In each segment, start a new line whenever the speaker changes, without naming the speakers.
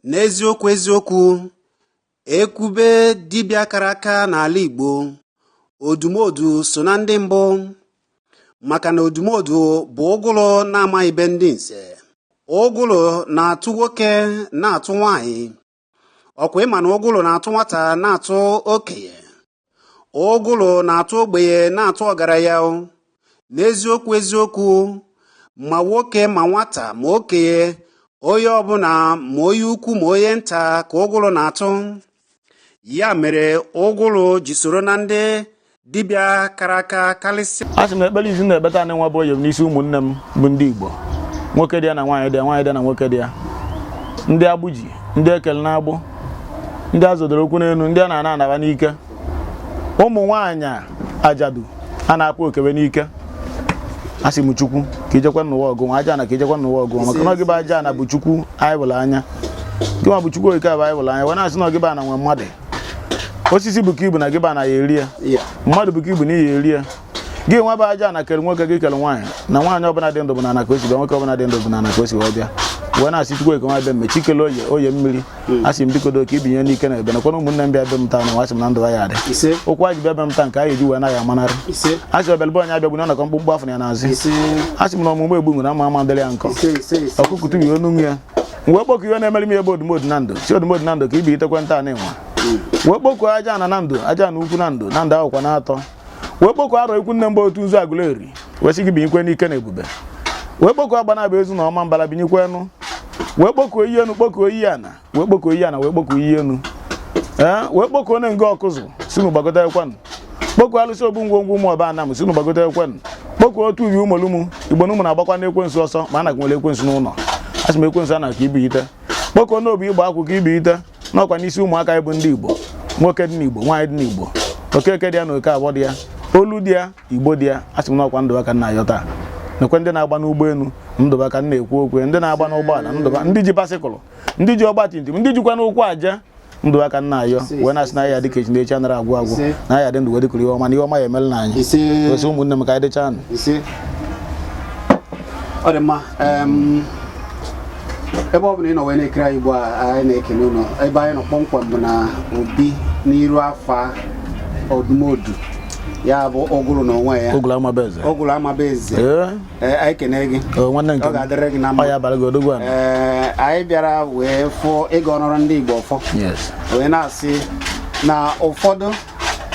n'eziokwu eziokwu e kwube dibịa kara aka n'ala Igbo odumodu so na ndị mbụ maka na odumodu bụ ụgụrụ na-amaghị be ndị nze ụgụrụ na-atụ nwoke na-atụ nwanyị ọ kwa ị ma na ụgụrụ na-atụ nwata na-atụ okenye ụgụrụ na-atụ ogbenye na-atụ ọgaranya n'eziokwu eziokwu ma nwoke ma nwata ma okenye onye ọbụla ma onye ukwu ma onye nta ka ụgụrụ na-atụ ya mere ụgụrụ ji soro na ndị dibịa kara aka karịsịa a sị m na ekpere izi na-ekpe
taa nụnwa bụ oyom n'isi ụmụnne m bụ ndị igbo nwoke dị ya na nwaanyị dị ya nwaanyị dị ya na nwoke dị ya ndị agbụ ji ndị e kele n'agbụ ndị a zọdoro ụkwụ n'elu ndị a na-ana ana va n'ike ụmụ nwaanyị ajadu a na-akpọ oke ve n'ike a sị m chukwu ka i jekwa n'ụwa ọgụ nwa ajana ka i jekwa n'ụwa ọgụ nwa maka na ọ gị bụ ajana bụ chukwu anyị vụrụ anya gị nwa bụ chukwu oke a bụ anyị vụrụ anya wee na-asị na ọ gị bụ ana nwe mmadụ osisi bukaa ibu na gị bụ ana ya-eri ya mmadụ bukaa ibu na ị ya-eri ya gị nwa bụ ajana kere nwoke gị kere nwaanyị na nwaanyị ọbụla dị ndụ bụ n'ana ka o si bịa nwoke ọbụla dị ndụ bụ n'ana ka o si wee bịa wee na-asị chukwu eke nwa be mme chi kele oye oye mmiri hmm. asị m biko do ka i binye n'ike na ebube nakwana ụmụnne m bịa be m taa na asị m na ndụ ya-adị ụkwụ va ji bịa be m taa nke a ya-eji wee naghị amanarị asị ọbịalụ be onye abịagbuna ọ nakọ mkpumkpu afụ ya n'azụ asị m na ọmụmụ egbu nwere ama ama dịrị ya nkọ ọkụkụ tụbi ọnụ ya wee kpọkụ ihe na-emere m ebe odumodu na ndụ sị odumodu na ndụ ka i binitekwe taa nụnwa wee kpọkụ ajana na ndụ ajana ukwu na ndụ na ndụ akwụkwa naatọ wee kpọkụ arọ ikwu nne m bụ otu nzu agụleri wee sị gị binyekwe n'ike na ebube wee kpọkụ agbanabọ ezu na ọmambala binyekwe enu wee kpọkụ iyi enu kpọkụ iyi ana wee kpọkụ iyi ana wee kpọkụ iyi enu ee wee kpọkụ onye nga ọkụzụ sị ụnụ gbagotekwanụ kpọku alụsị ogbu ngwongwo ụmụọba anam sị ụnụ gbagotekwenụ kpọku otu ubi ụmụlụmụ igbo na ụnụ na-agbakwanụ ekwensu ọsọ mana a kwụnyere ekwensu n'ụlọ asị m ekwensu ana ka i binite kpọku n'obi igba akwụ ka i binite na ọ kwa n'isi ụmụaka ị bụ ndị igbo nwoke dị n'igbo nwaanyị dị n'igbo okeke dị ya na okeafọ dị ya olu dị ya igbo dị ya asị m na ọ kwa ndụ va ka m na-ayọ taa nekwe ndị na-agba n'ụgbọelu ndụ va ka m na-ekwu okwu ndị na-agba n'ụgbọala ndụ va ndị ji basikụlụ ndị ji ọgba tum tum ndị jikwanụ ụkwụ eje ndụ va ka m na-ayọ wee na-asị na ya dịka echi na echi anara agwụ agwụ na ya dị ndụ wee dịkuru ihe ọma na ihe ọma ya-emelanụ anyị osi ụmụnne m ka anyị dịchaanụ
ọ dị mma ebe ọ bụla ị nọ wee na-ekiri anyị ugbu a anyị na-ekele ụnụ ebe anyị nọ kpọmkwem bụ na obi n'iru afa odumodu ya bụ ụgụrụ n'onwe ya ụgụrụ ama be eze Ee, anyị kenere gị O, nwanne nke ọ m. ga-adịrị gị na Ọ mma ya abalị gị odogwu a. Ee, anyị bịara wee fụọ ịga ọnọrọ ndị Igbo ọfọ Yes. wee na-asị na ụfọdụ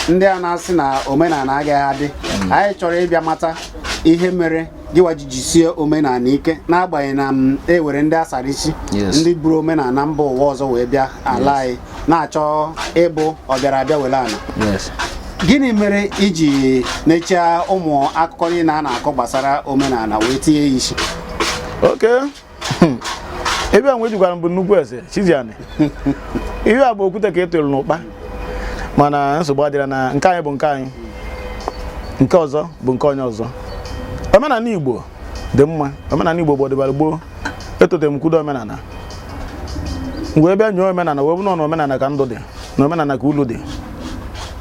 ndị a na-asị na omenala agaghị adị anyị chọrọ ịbịa mata ihe mere gịwa ji jisie omenala ike n'agbanyeghị na e nwere ndị a sara isi Yes. ndị buru omenala mba ụwa ọzọ wee bịa ala anyị na-achọ ịbụ ọbịara abịa were ana gịnị mere i ji nechaa ụmụ akụkọ niile a na-akọ gbasara omenala wee tinye ya isi
okay hmm. ebe a nwe jikwara mbụ nnukwu eze chiziani ihe a bụ okwute ka ị tụrụ n'ụkpa mana nsogbu adịrọ na nke anyị bụ nke anyị nke ọzọ bụ nke onye ọzọ omenala igbo dị mma omenala igbo bụ ọdịbara gboo etote m kwudo omenala wee bịa nyoo omenala wee fụ na omenala ka ndụ dị na omenala ka ulu dị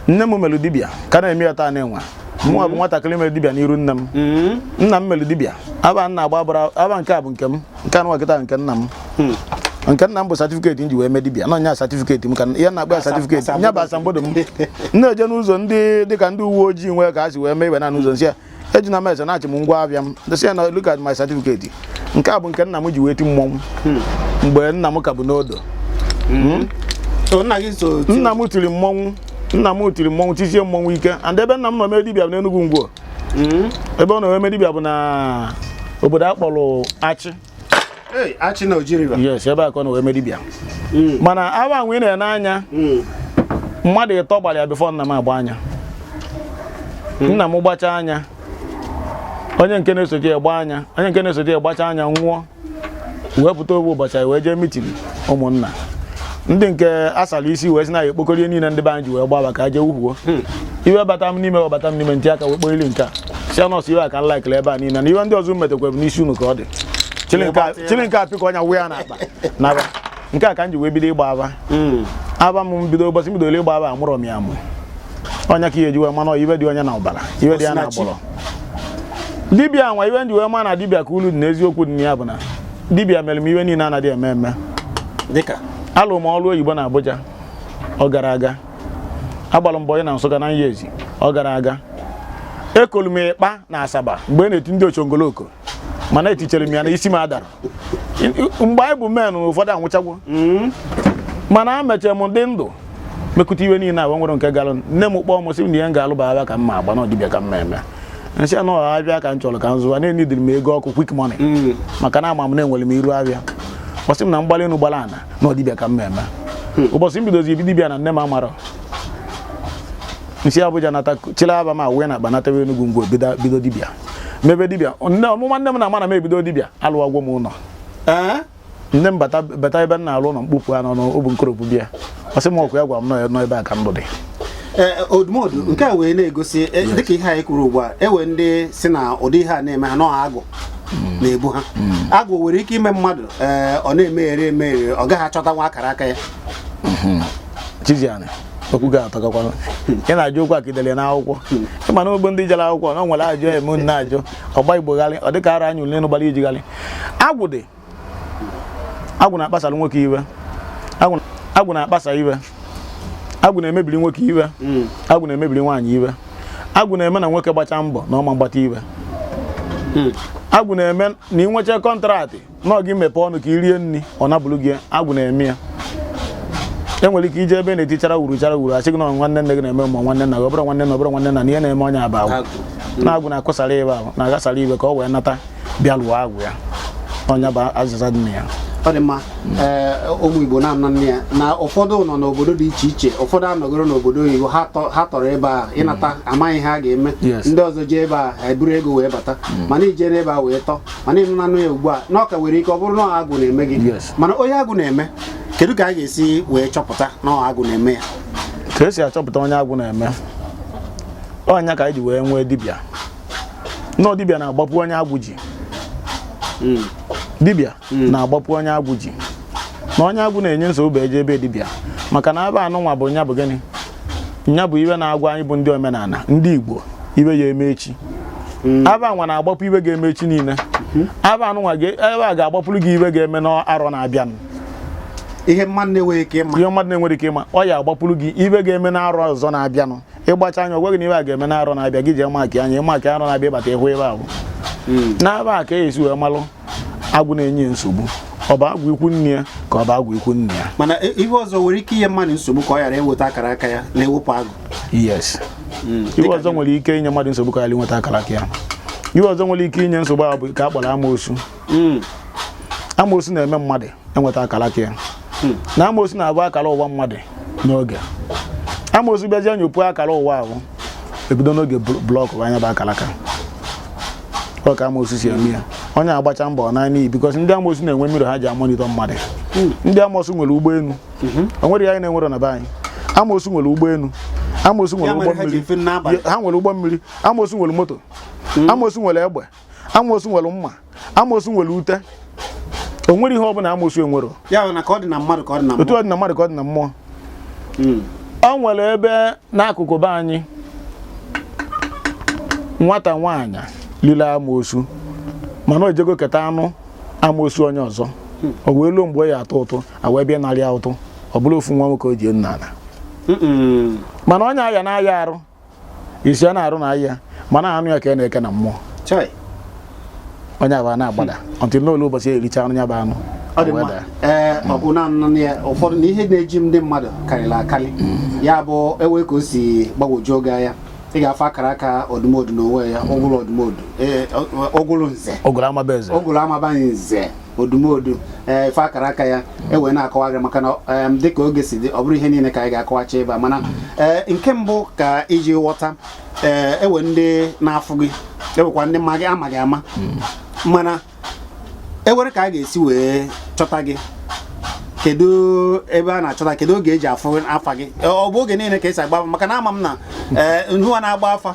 nne m mere dibịa ka na-eme ya taa na-enwe mụnwa bụ nwatakịrị mere dibịa n'iru nne m mm-hmm. nna m mere dibịa afa na-agba gbara afa nke a bụ nke m nke a nọ kịta nke nna m hmm. nke nna m bụ satifiketi m ji wee mee dibịa na nya satifiketi m ka ya na-akpọ ya satifiketi nya bụ asambodo m na-eje n'ụzọ ndị dịka ndị uwe ojii nwee ka ha si wee mee ife na n'ụzọ m sị ya eji na m eze na-achị m ngwa afịa m je sị ya na look at my certificate nke a bụ nke nna m ji wee ti mmọnwụ mgbe nna m ka bụ n'odo So, nna gị so ti- nna m tiri mmọnwụ nna m tiri mmọnwụ tisie mmọnwụ ike and ebe nna m nọ mee dibịa bụ n'Enugwu Ngwo Mm. ebe ọ nọ wee mee dibịa bụ na obodo a kpọrọ Achị
Achị na Oji River yes ebe a ka ọ nọ
wee mee dibịa hmm. mana afa nwa ị na-ene anya hmm. mmadụ ịtọ gbara ya bifọ nna m agba nya hmm. nna m gbacha nya onye nke na-esote ya gba nya onye nke na-esote ya gbacha nya nwụọ wee pụta ofu ụbọchị wee jee mitin ụmụnna ndị nke a sara isi wee sị na ya ekpokọrọ ife niile ndị be anyị ji wee gba afa ka e je wufuo hmm. iwe bata m n'ime iwe bata m n'ime m tị aka wee kpọrili nke a sị nọọsụ ife a ka m laikele ebe a niile na ife ndị ọzọ metekwara n'isi unu ka ọ dị chili nke a pịkọọ nya wụnye na akpa naba nke a ka m ji wee bido ịgba afa hmm. afa m bido ụbọchị m bidolu ịgba afa amụrọ m ya amụ ọ nya ka i ya-eji wee ma na ife dị onye na ọbara ife dị ya na agbụrụ dibịa nwa ife m ji wee ma na dibịa ka ulu dị n'eziokwu dị na ya bụ na dibịa mere m ife niile anaghị eme eme dịka alụ m ọrụ oyibo na Abuja ọ garọ aga agbara m boyi na Nsụka na Nyezi ọ garọ aga ekolu m ịkpa na Asaba mgbe e na-eti ndị ochongoloko mana etichere m ya na isi m adara mgbe anyị bụ men ụfọdụ anwụchagwo mana emechere m dị ndụ mekụta ife niile a o nwere nke gara nne m kpọọ m sị m na ihe m ga-alụ bụ afịa ka m ga-agba na ọ dibịa ka m ga-eme m sị ya na ọ afịa ka m chọrọ ka m zụwa na-enidiri m ego ọkụ quick money maka na ama m na enwere m iru afịa ọ sị m na m gbalị enu gbara ana na ọ dibịa ka m ga-eme ụbọchị m bidozi ebido dibịa na nne m amarọ m si Abuja nata chịlị afa m wee na akpa natawa Enugu ngwa bido bido dibịa mebe dibịa nne ọmụma nne m na-ama na m ebido dibịa alụwago m ụlọ Ee? nne m bata bata ebe m na-alụ ụlọ mkpofu anọ n'obu nkoropụ bịa ọ sị m ọ kwa ya gwara m na ọ ya- na ọ ebe a ka ndụ dị Ee,
odumodu nke a wee na-egosi e, dịka ihe anyị kwuru ugbu a e nwee ndị si na ụdị ihe a na-eme ha na ọ agwụ na-ebu ha agwụ nwere ike ime mmadụ ee, ọ na-emeghere emeghere ọ gaghị achọtanwu akara aka
ya chijianị okwu ga-atọgakwana ị na-ajụ okwu akidele n'akwụkwọ ị ma na ogbo ndị jere akwụkwọ na o nwere ajụ eme unu na-ajụ ọ gba Igbo gharị ọ dịka ara anyị ule nụ gbara ijigharị agwụ dị agwụ na-akpasara nwoke ife agwụ na-akpasa ife agwụ na-emebiri nwoke ife hmm. agwụ na-emebiri nwaanyị ife agwụ na-eme na nwoke gbacha mbọ na ọ ma agbata ife hmm. agwụ na-eme na i nwecha contract na gị mepee ọnụ ka i rie nri ọ napụrụ gị agwụ na-eme ya e nwere ike ije ebe na-etichara wuru chara wuru a sị gị na nwanne nne gị na-eme ma nwanne nna gị ọ bụrọ nwanne na ọ bụrọ nwanne nna ihe na-eme onye a bụ agwụ na agwụ na-akụsara ife ahụ na-aghasara ife ka ọ wee nata bịa lụọ agwụ ya ọ nya bụ azịza dị na ya ọ dị
mma ee ụmụ Igbo na-anọ nne ya na ụfọdụ nọ n'obodo dị iche iche ụfọdụ anọgoro n'obodo oyibo ha tọ- ha tọrọ ebe a ịnata amaghị ha ga-eme Yes. ndị ọzọ jee ebe a ha eburu ego wee bata mana i jere ebe a wee tọ mana ị nụnanụ ya ugbu a na ọ ka nwere ike ọ bụrụ na ọ agwụ na-eme gị Yes. mana onye agwụ na-eme kedu ka a ga-esi wee chọpụta na ọ agwụ na-eme ya ka e si achọpụta
onye agwụ na-eme ọ nya ka anyị ji wee nwee dibịa na ọ dibịa na-agbapụ onye agwụ ji hmm. dibịa hmm. na-agbapụ onye agwụ ji na onye agwụ na-enye nsogbu e jee be dibịa maka na afa anụnwa bụ nya bụ gịnị nya bụ ife na-agwa anyị bụ ndị omenala ndị Igbo ife ya-eme echi hmm. afa anwa na-agbapụ ife ga-eme echi niile afa anụnwa ebe a ga-agbapụrụ gị ife ga-eme n'arọ na-abịanụ
ihe mmadụ na-enweghị ike ịma ihe mmadụ na-enweghị
ike ịma ọ ya-agbapụrụ gị ife ga-eme n'arọ ọzọ na-abịanụ ị gbachi anya ọ gwa gị na ife a ga-eme na arọ na-abịa gị jee makịa nya ị makịa arọ na-abịa ị bata ị hụ ife ahụ hmm. n'afa ka e si wee malụ agwụ na-enye nsogbu ọ bụ agwụ ikwu nne ya ka ọ bụ agwụ ikwu nna ya mana e, ihe ọzọ nwere
ike inye mmadụ nsogbu ka ọ ghara inweta akara aka ya na e wepụ agwụ
yes hmm. ihe ọzọ nwere ike inye mmadụ nsogbu ka ọ ghara inweta akara aka ya ihe ọzọ nwere ike inye nsogbu ahụ bụ nke a kpọrọ amoosu hmm. amoosu na-eme mmadụ enweta akara aka ya hmm. na amosu na-afụ akara ụwa mmadụ n'oge amosu bịazie nyopuo akara ụwa ahụ e bido n'oge blọkụọ nya bụ akara aka ọ ka amosu si eme ya onye agbacha mbọ na n'iyi because ndị amosu na-enwe mirror ha ji a-monitor mmadụ hmm. ndị amosu nwere ụgbọelu mhm. o nwere ya anyị na-enwere na be anyị amosu nwere ụgbọelu amosu nwere ụgbọ mmiri ha nwere ụgbọ mmiri amosu nwere moto hmm. amosu nwere egbe amosu nwere mma amosu nwere ute o nwere ihe ọbụla amosu enwero ya bụ na ka ọ dị na
mmadụ ka ọ dị na mmụọ otu ọ dị na mmadụ ka ọ dị na mmụọ
Mm. o nwere ebe n'akụkụ be anyị nwata nwaanyị lili amosu mana o jego keta anụ amosu onye ọzọ o wee luo mgbe ọ ya-atụ ụtụ a wee bịa narị ya ụtụ ọ bụrụ ofu nwa nwoke o ji nna ala Mm-mm. mana onye aya na-aya arụ isi a na-arụ na ahịa mana anụ ya ka a na-eke na mmụọ Chai. onye afụ a na-agbada ọtụ n'olu ụbọchị e richa anụ ya bụ anụ ọ dị mma Weda.
ee ọ bụ naanị ya ụfọdụ na ihe na-eji ndị mmadụ karịrị akarị ya bụ ewe ka o si gbagwojuo gị anya ị ga-afụ akara aka odumodu n'onwe ya ụgwụrụ odumodu ee, ọ- ọ- ụgwụrụ nze ogolo amaba eze ụgwụrụ amabaghị nze odumodu ee ife akara aka ya ewee na-akọwaghị maka na em, dịka oge si dị ọ bụrụ ihe niile ka anyị ga-akọwacha ebe a mana ee nke mbụ ka iji ghọta ee ewe ndị na-afụ gị ewekwa ndị ma gị ama gị ama mana ewere ka a ga-esi wee chọta gị kedu ebe a na-achọta kedu oge e ji afụ afa gị ọ bụ oge niile ka e si agba afa maka na ama m na ee ngịnwa na-agba afa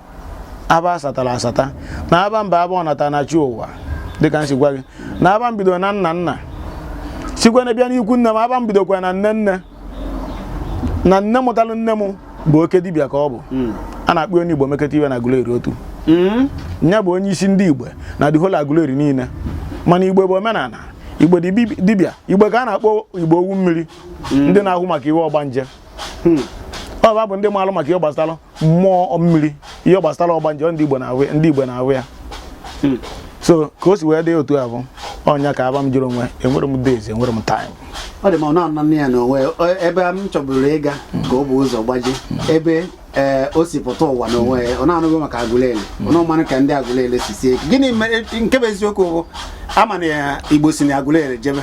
afa a satara asata na afa m bụ afa ọnata na chi ụwa dịka m si gwa gị na afa m bido na nna nna sikwa na bịa n'ikwu nne m afa m bidokwa na nne nne na nne mụtalụ nne m bụ oke dibịa ka ọ bụ hmm. a na-akpọ onye igbo mekọta iwe na Aguleri otu hmm. ya bụ onye isi ndị igbe na the whole Aguleri niile mana igbe bụ omenala igbo dibịa igbo ka a na-akpọ igbe owu mmiri hmm. ndị na-ahụ maka ihe ọgbanje ọ fa bụ ndị maalụ maka ihe gbasara mmụọ mmiri ihe gbasara ọgbanje ndị igbe na-awụ ndị igbe na-awụ ya hmm. so ka o si wee dị otu a bụ ọ nya ka afa m jiri onwe enwere m days enwere m time ọ dị ma ọ na-anọ
ya na o nwe ebe m chọburu ịga ka ọ bụ ụzọ gbaji ebe ee eh, o si pụta ụwa n'onwe ya ọ na-anụghị maka agụleri ọ na-amanụ ka ndị agụleri si sie gịnị nke bụ eziokwu bụ a ma na igbo si na agụleri jebe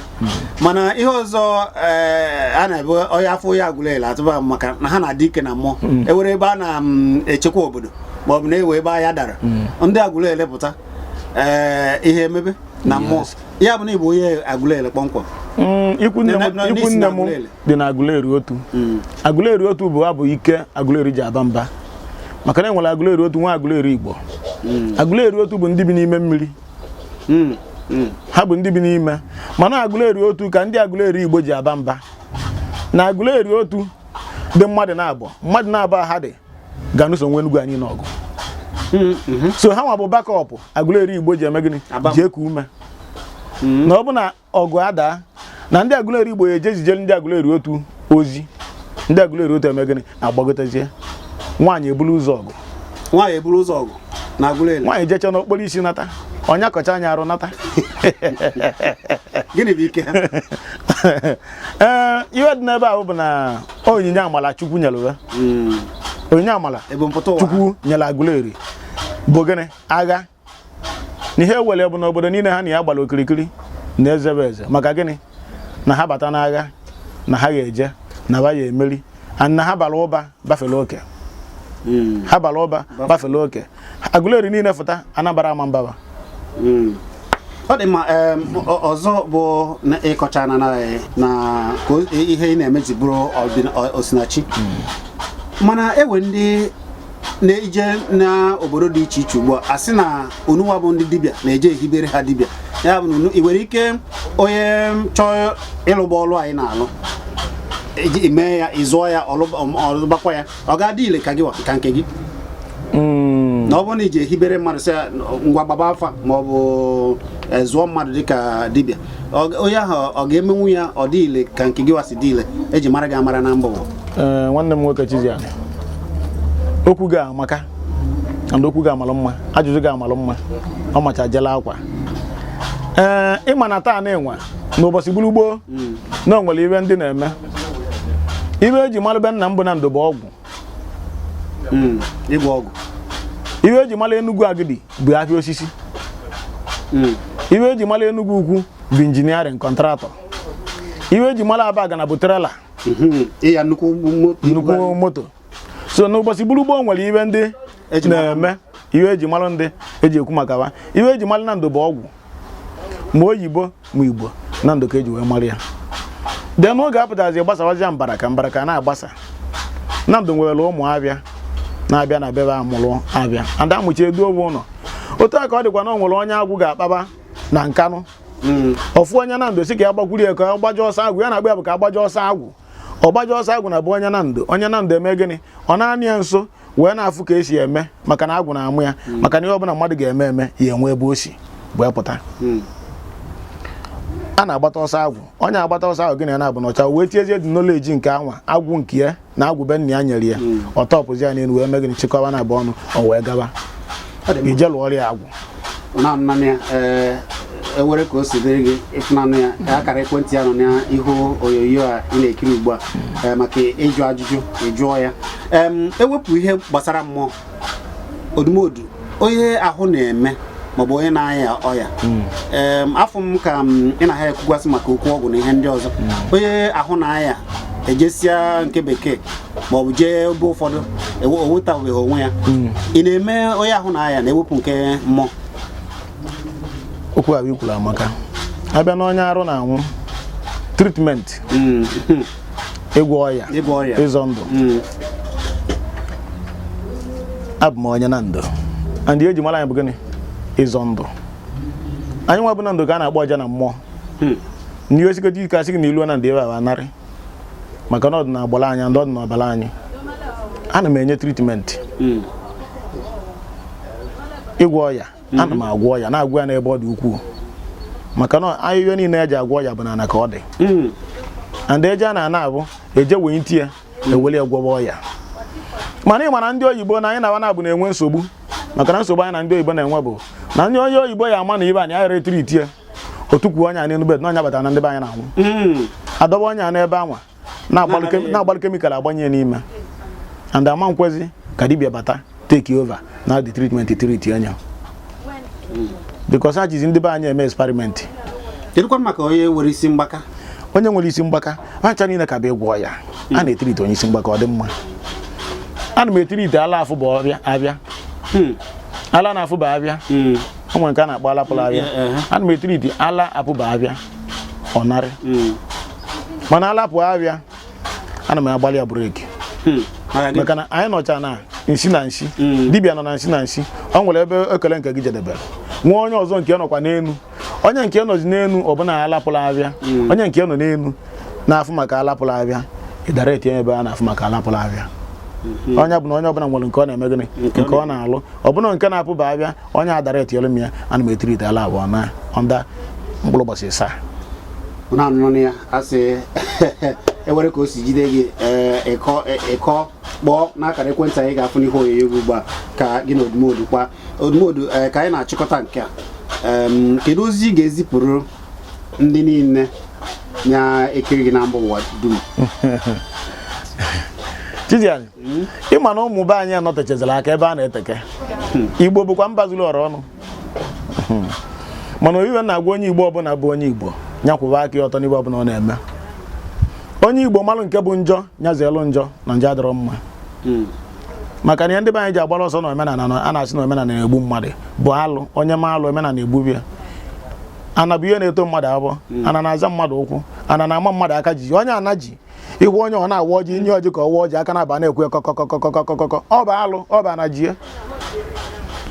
mana ihe ọzọ eh, a na-ebe onye afọ ya agụleri atụba maka na ha na-adị ike na mmụọ mm. ewere ebe a na-echekwa mm, obodo ma ọ bụ na ewe ebe aya dara mm. ndị agụleri pụta eh, ihe emebe na mmụọ ya bụ na ịbụ onye agụleri
kpọmkwem ikwu nne m dị na agụleri otu agụleri otu bụ ha bụ ike agụleri ji aba mba maka na enwere agụleri otu nwee agụleri igbo agụleri otu bụ ndị bi n'ime mmiri hmm, hmm. ha bụ ndị bi n'ime mana Aguleri Otu ka ndị Aguleri Igbo ji aba mba na Aguleri Otu dị mmadụ na-abụ mmadụ na-abụ ha dị ga-anụso nwe Enugu anyị n'ọgụ hmm, so ha nwa bụ backup Aguleri Igbo ji eme gịnị ji eku ume na ọ bụ na ọgụ adaa na ndị Aguleri Igbo ya eje zijere ndị Aguleri Otu ozi ndị Aguleri Otu eme gịnị agbagotezie nwaanyị eburu ụzọ ọgụ nwaanyị eburu ụzọ ọgụ na Aguleri
nwaanyị jecha n'okporo isi
nata ọnya akọcha anyị arụ nata
gịnị bụ ike
ee ihe dị n'ebe ahụ bụ na onyinye amala Chukwu nyere uwe hmm. onyinye amala Chukwu nyere Aguleri bụ gịnị agha na ihe ewere bụ na obodo niile ha na ya gbara okirikiri na-eze be eze maka gịnị na ha bata n'agha na ha ga-eje na ha ya emeri na ha bara ụba bafere oke hmm. ha bara ụba bafere oke Aguleri niile fụta Anambra Ọmambala
hmm. ọ dị mma ọzọ bụ ịkọcha na na ihe ị na-eme ji bụrụ osinachi hmm. mana enwe ndị na-eje n'obodo dị iche iche ugbu a sị na unuwa bụ ndị dibịa na-eje ehibere ha dibịa ya bụ na ị nwere ike onye chọọ ịlụgba ọlụ anyị na-alụ e mee ya ị zụọ ya ọ lụbakwa ya ọ ga-adị ile ka gịwa ka nke gị hmm. na ọ bụrụ na i je ehibere mmadụ sị ngwa gbaba afa ma ọ bụ e, zụọ mmadụ dịka dibịa onye ahụ ọ ga-emenwu ya ọ dị ile ka nke gịwa si dị ile eji mara gị amara na mbụ nwanne m
nwoke Chizzy Ani okwu gị amaka and okwu gị amalụ mma ajụjụ gị amalụ mma ọ macha jela akwa ee ị ma na taa na-enwe n'ụbọchị gburu gboo mm. na o nwere ibe ndị na-eme ibe eji mara be nna m bụ Nando bụ ọgwụ
hmm, ịgwọ ọgwụ iwe
eji mara Enugu Agidi bụ ahịa osisi hmm. iwe eji mara Enugu Ukwu bụ engineering contractor iwe eji mara Abagana bụ
trailer hmm, nnukwu
moto so n'ụbọchị gburu gboo o nwere ibe ndị na-eme iwe eji mara ndị eji ekwu maka ha iwe eji mara Nando bụ ọgwụ ma oyibo ma Igbo Nando ka eji wee mara ya de n'oge apụtazi gbasawazia mbara ka mbara ka na-agbasa Nando nwere ụmụ abịa na-abịa na be be amụrụ abịa ada amụchi edu owe ụlọ otu a ka ọ dịkwa na o nwere onye agwụ ga-akpaba na Nkanu hmm. ofu onye Nando sị ka ya gbakwuru ya ka ọ gbaje ọsọ agwụ ya na-agba ya bụ ka agbaje ọsọ agwụ ọ gbaje ọsọ agwụ na be onye Nando onye Nando eme gịnị ọ na-anọ ya nso wee na-afụ ka esi eme maka na agwụ na-amụ ya hmm. maka na ihe ọbụla mmadụ ga-eme eme ya enwe ebe o si wee pụta hmm. a na-agbata ọsọ agwụ onye agbata ọsọ agwụ gị na ya na-abụ n'ọcha wee tiezie the knowledge nke anwa agwụ nke ya na agwụ be nna ya nyere ya hmm. ọ tọpụzi ya n'elu wee mee gịnị chịkọba naabọ ọnụ o wee gaba ije lụọ ọrịa agwụ naanị ya
eh, ewere ka o si dịrị gị ịfụnanụ ya ka akara ekwentị ya nọ n'ihu onyonyo a ị na-ekiri ugbu a eh, maka ịjụ ajụjụ ị jụọ ya ewepụ ihe gbasara mmụọ Odumodu onye ahụ na-eme maọbụ onye na-aya ọya hmm. afụ m ka ị na ha ekwugasị maka okwu ọgwụ na ihe ndị ọzọ hmm. onye ahụ na-aya ejesịa nke bekee maọbụ jee ebe ụfọdụ o nwetabeghị onwe ya hmm. ị na-eme onye ahụ na-aya na-ewepụ nke
mmụọ okwu ahụ i kwuru amaka abịa n'onye arụ na-anwụ treatment hmm. ịgwọ ọya ịzọ ndụ hmm. abụ m onye Nando and ihe eji mara anyị bụ gịnị ịzọ ndụ anyị nwa bụ Nando ka a na-akpọ ọja na mmụọ ndị osikọta ike asị gị na i lu Nando ebe a anarị maka na ọ dị na agbụrụ anyị and ọ dị na ọbara anyị ana m enye treatment hmm. ịgwọ ọya hmm. ana m agwọ ọya na-agwọ ya n'ebe ọ dị ukwuu maka na ahịhịa niile eji agwọ ọya bụ n'ala ka ọ dị hmm. and eje n'ana abụ eje wete ya ewere ya gwọwa ọya mana ị mara ndị oyibo na anyị na-aba na-abụ na-enwe nsogbu maka na nsogbu anyị na ndị oyibo na-enwe bụ na ndị onye oyibo ya ama na ibe anyị aghara etreat ya o tukwuo onye a n'elu bed na ọ ya kpatara na ndị be anyị na-anwụ Mm. adọba onye a n'ebe anwa na-agbalụ kem- Na-agbalụ- na-agbalụ chemical agbanye n'ime and ama ekwezi ka dibịa bata take over na the treatment treat onye because ha jizi ndị be anyị eme experiment kedụkwa
maka onye nwere isi mgbaka onye nwere
isi mgbaka ha ncha niile ka bụ ịgwọ ya a na-etreat onye isi mgbaka ọ dị mma ana m etreat ala afụburọ afịa Mm. ala na-afụburọ afịa Mm. o nwere nke a na-akpọ ala pụrụ afịa Eh, eh. ana m etreat ala apụba afịa ọ narị Mm. mana ala pụọ afịa ana m agbalị ya break Hmm. Maka gị- maka na anyị nọcha na nsi na nsi Mm. dibịa nọ na nsi na nsi o nwere ebe ike nke gị jedebere nwee onye ọzọ nke nọkwa n'elu onye nke nọzi n'elu ọ bụ na ala pụrụ afịa onye nke nọ n'elu na-afụ maka ala pụrụ afịa ị direct ya ebe a na-afụ maka ala pụrụ afịa onye ọbụna onye ọbụla nwere nke ọ na-eme gịnị nke ọ na-alụ ọ bụ na nke na-apụba afịa onye a directiere m ya ana m etreat ala afụ na under mkpụrụ ụbọchị asaa
na-anụnụ ya asị ewere ka o si jide gị biko e, e, kpọọ n'akara ekwentị anyị ga-afụ n'ihe onyonyo gị ugbu a ka gị na Odumodu kpaa Odumodu e, ka anyị na-achịkọta nke a kedu ozi ị ga-ezipụrụ ndị niile na-ekiri gị na mba ụwa dum
ịma na ụmụ be anyị anọtechazila aka ebe a na-eteke igbo bụkwa mba zuru ọra ọnụ mana ọ iwe na-agwa onye igbo ọbụla bụ onye igbo nya kwụba aka ya ọtọ n'ibe ọbụla ọ na-eme onye igbo malụ nke bụ njọ nya zeelụ njọ na njọ adịrọ mma maka na ihe ndị be anyị ji agbara ọsọ na omenala a na-asị na omenala na-egbu mmadụ bụ alụ onye mee alụ omenala egbube ya ana bụ ihe na-eto mmadụ afọ ana na-aza mmadụ ụkwụ ana na-ama mmadụ aka ji onye ana ji ị hụ onye ọ na-awa ọjị nye ọjị ka ọ wa ọjị aka na-aba na-ekwe kọkọkọkọkọkọkọ ọ bụ alụ ọ bụ ana jie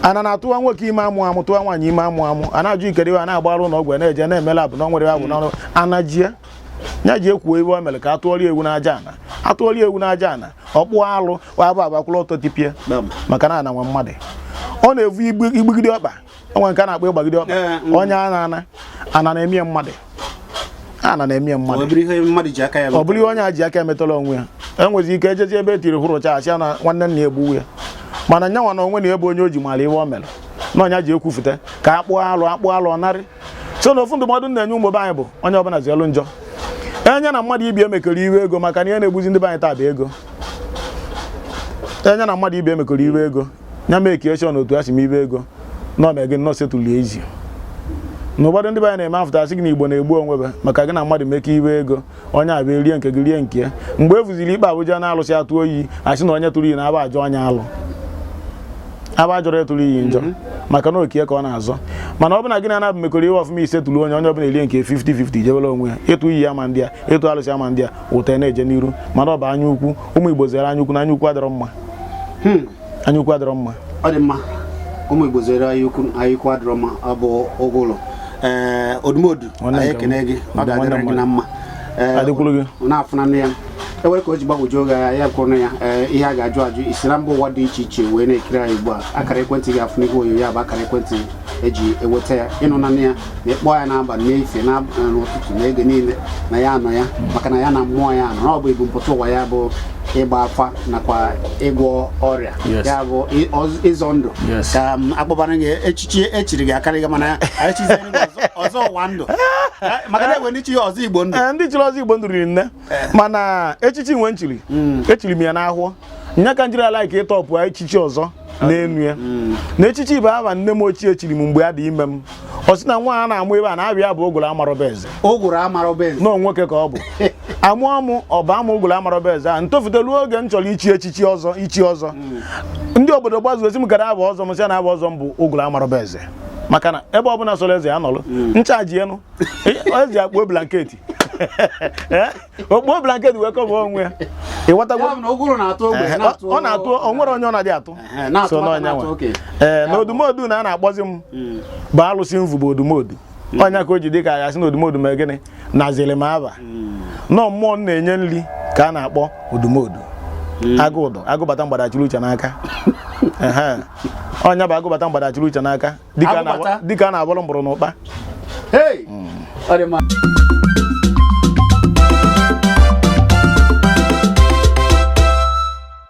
ana na-atụwa nwoke ime amụ amụ tụwa nwaanyị ime amụ amụ a na-ajụ ikere iwe a na-agbarụ ụlọ ọgwụ na-eje na-eme lab na nwere abụ n'ọrụ ana jie nya jee kwuo iwe o mere ka a tụọrọ ya ewu n'aja ana a tụọrọ ya ewu n'aja ana ọ kpụọ alụ wa afọ abakwụrụ ọtọ tipịa maka na ana nwe mmadụ ọ na-evu ịgbagide ọkpa o nwe nke a na-akpọ ịgbagide ọkpa eh, mm. onye ana ana ana na-emie mmadụ ana na-emie mmadụ ọ bụrụ ihe onye a ji aka emetọla onwe ya e nwezi ike ejezi ebe etiri hụrụcha a sị na nwanne nna egbuwe ya mana nyanwa na onwe na ebe onye o ji mara ihe o mere na ọ nya jee kwufute ka a kpụọ alụ a kpụọ alụ narị so na ofu ndụmọdụ na-enye ụmụ be anyị bụ onye ọbụla zeelu njọ onye na mmadụ ibe ya mekọrọ iwe ego maka na ihe na-egbuzi ndị be anyị taa bụ ego onye na mmadụ ibe ya mekọrọ iwe ego ya make sure na otu a si mee iwe ego na ọ na-ege nnọọ settle ezi na ụfọdụ ndị be anyị na-eme afụta asị gị na igbo na-egbu onwe be maka gị na mmadụ mekọ iwe ego onye abịa erie nke gị rie nke ya mgbe e fụziri ikpe ebu je n'alụsị a tụọ iyi asị na onye tụrụ iyi na aba ajọ onye alụ aba ajọrọ ya tụrụ iyi njọ maka na oke ya ka ọ na-azọ mana ọ bụ na gị na anabụ mekọrọ ihe ọfụma i settle onye onye ọbụla erie nke 50-50 jebere onwe ya ịtụ iyi ama adị ya ịtụ alụsị ama adị ya ụtọ na-eje n'iru mana ọ bụ anya ukwu ụmụ igbo zere anya ukwu na anya ukwu adịrọ mma hmm. anya ukwu adịrọ mma ọ dị mma
ụmụ igbo zere anya ukwu anya ukwu adịrọ mma ọ bụ ogolo ee odumodu anyị ekene gị ọ ga-adịrị gị na mma na-afụnanụ ya e nwere ka o ji gbagwojuo gị anya kwụrụ ya ee ihe a ga-ajụ ajụ i si na mba ụwa dị iche iche wee na-ekiri anyị ugbu a akara ekwentị ị ga-afụ n'ihu onyonyo ya bụ akara ekwentị e ji eweta ya ị nụnanụ ya na ịkpọ ya n'abalị n'efie n'ụtụtụ na oge niile na ya anọ ya maka na ya na mmụọ ya anọ na ọ bụ ebumpụta ụwa ya bụ ịgba afa nakwa ịgwọ ọrịa ya bụ ịzọ ndụ ka um, akpọbara gị echichi e chiri gị akarịghị mana echizi ọzọ ụwa ndụ maka na e nwe ndị chi ọzọ igbo ndụ eh, ndị chiri ọzọ igbo ndụ riri
nne mana echichi nwe m chiri mm. echiri m ya n'afọ nya ka m jiri ala ike ịtọpụ echichi ọzọ n'enu ya mm. na echichi bụ aha nne m ochie chiri m mgbe a dị ime m ọ sị na nwa a na-amụ ebe a na-abịa bụ ogolo amarọba eze ogolo amarọba eze na ọ nwoke ka ọ bụ a mụọ m ọ baa m ogolo amarọba eze a m tofute ruo oge m chọrọ ichi echichi ọzọ ichi ọzọ mm. ndị obodo gbazuo sị m gara aha ọzọ m sị na aha ọzọ m bụ ogolo amarọba eze maka na ebe ọbụla sọrọ eze ya nọrọ ncha ji enu eze akpuo blanket Eh? o kpuo blanket wee kọba onwe ya ị ghọtago Ya bụ na ụgụrụ na-atụ ogbe Eh, na-atụ ọ na-atụ o nwere onye ọ na-adị atụ Ehe, na-atụ so nwata, n'ọ nya na-atụ nwa okenye. ee na odumodu na a na-akpọzi m Mm. bụ alụsị m vu bụ odumodu ọ nya ka o ji dị ka a sị na odumodu mee gịnị naziri m aba n'ọ mmụọ m na-enye nri ka a na-akpọ odumodu agụ udo agụ bata mgbada achịrị uche n'aka Ehe. ọ nya bụ agụ bata mgbada achịrị uche n'aka dịka a na- Agụ bata. dịka a na-agbara mgbọrọ n'ụkpa Hey! Ọ dị mma.